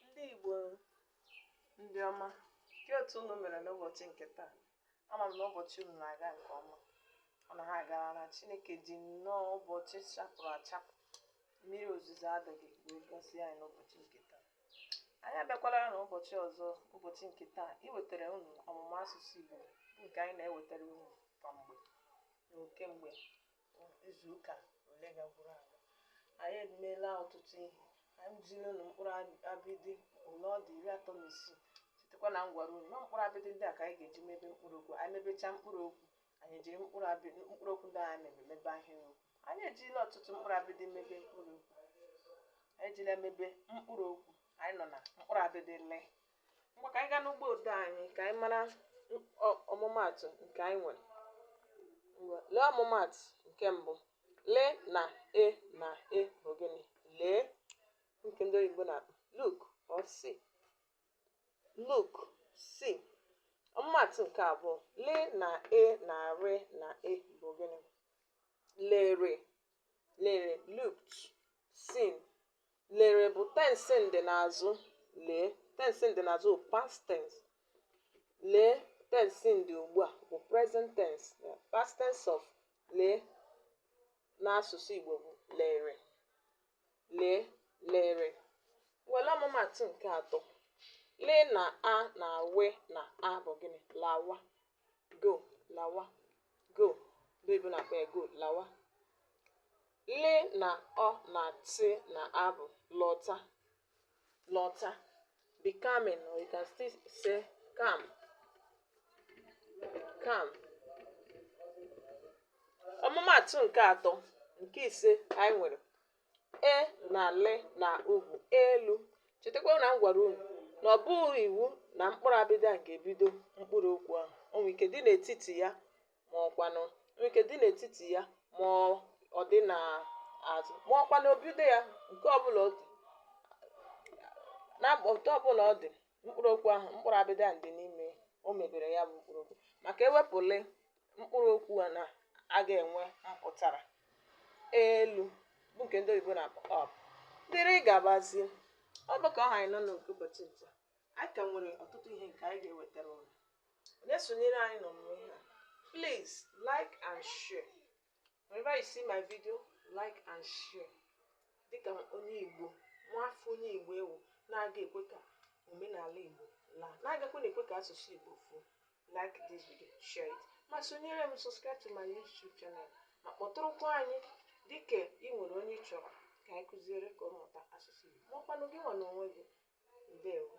ndị Igbo ndị ọma kee otu unu mere n'ụbọchị nke taa ama m na ụbọchị unu na-aga nke ọma ọ na ha agara na Chineke ji nnọọ ụbọchị chapụrụ achapụ mmiri ozuzo adịghị wee gọzie anyị n'ụbọchị nke taa anyị abịakwala na ụbọchị ọzọ ụbọchị nke taa iwetara unu ọmụmụ asụsụ Igbo nke anyị na-ewetara unu kwa mgbe na kemgbe izuụka ole gaburu aga anyị emeela ọtụtụ ihe anyị ziri unu mkpụrụ abịdị ole ọ dị iri atọ na isii chetakwa na m gwara unu na mkpụrụ abịdị ndị a ka anyị ga-eji mebe mkpụrụ okwu anyị mebechaa mkpụrụ okwu anyị ejiri mkpụrụ okwu ndị anyị mebe ahịrị okwu anyị ejirila ọtụtụ mkpụrụ abịdị mebe mkpụrụ okwu anyị ejila mebe mkpụrụ okwu anyị nọ na mkpụrụ abịdị le ngwa ka anyị gaa n'ugbo ode anyị ka anyị mara ọmụmaatụ nke anyị nwere lee ọmụmaatụ nke mbụ le na e na e bụ gịnị lee nke ndị oyibo na-akpọ look or see look see ọmụmaatụ nke abụọ le na e na re na e bụ gịnị lere lere looked seen lere bụ tensị ndịnazụ lee tensị ndịnazụ bụ past tense lee tensị ndị ugbu a bụ present tense na past tense of lee n'asụsụ Igbo bụ lere lee lere were ọmụmaatụ nke atọ le na a na we na a bụ gịnị lawa go lawa go ndị oyibo na-akpọ ya go lawa le na ọ na tị na a bụ lọta lọta be coming or you can still say come come ọmụmaatụ nke atọ nke ise anyị nwere e na le na u bụ elu chetakwa na m gwara unu na ọ bụghị iwu na mkpụrụ abịdị a ga-ebido mkpụrụ okwu ahụ o nwere ike dị n'etiti ya ma ọkwanụ nwere ike dị n'etiti ya ma ọ dị n'azụ ma ọkwanụ obido ya nke ọbụla ọ dị na otu ọbụla ọ dị mkpụrụ okwu ahụ mkpụrụ abịdị a dị n'ime o mebere ya bụ mkpụrụ okwu maka e wepụ le mkpụrụ okwu a na a ga-enwe mpụtara elu bụ nke ndị oyibo na-akpọ up dịrị gabazie ọ bụ ka ọ ha anyị n'ọnụ nke ụbọchị taa anyị ka nwere ọtụtụ ihe nke anyị ga-ewetara unu onye sonyere anyị n'ọmụmụ ihe a please like and share Whenever you see my video, like and share. Dịka onye Igbo, nwa afọ onye Igbo ị wụ na-aga ekwe ka omenala Igbo laa, na-agakwa na-ekwe ka asụsụ Igbo fuo. Like this video, share it. Ma sonyere m subscribe to my YouTube channel ma kpọtụrụkwa anyị dịka ị nwere onye ị chọrọ ka anyị kụziere ka ọ mụta asụsụ Igbo. Ma ọkwanụ gị nwa n'onwe gị. Ndewo.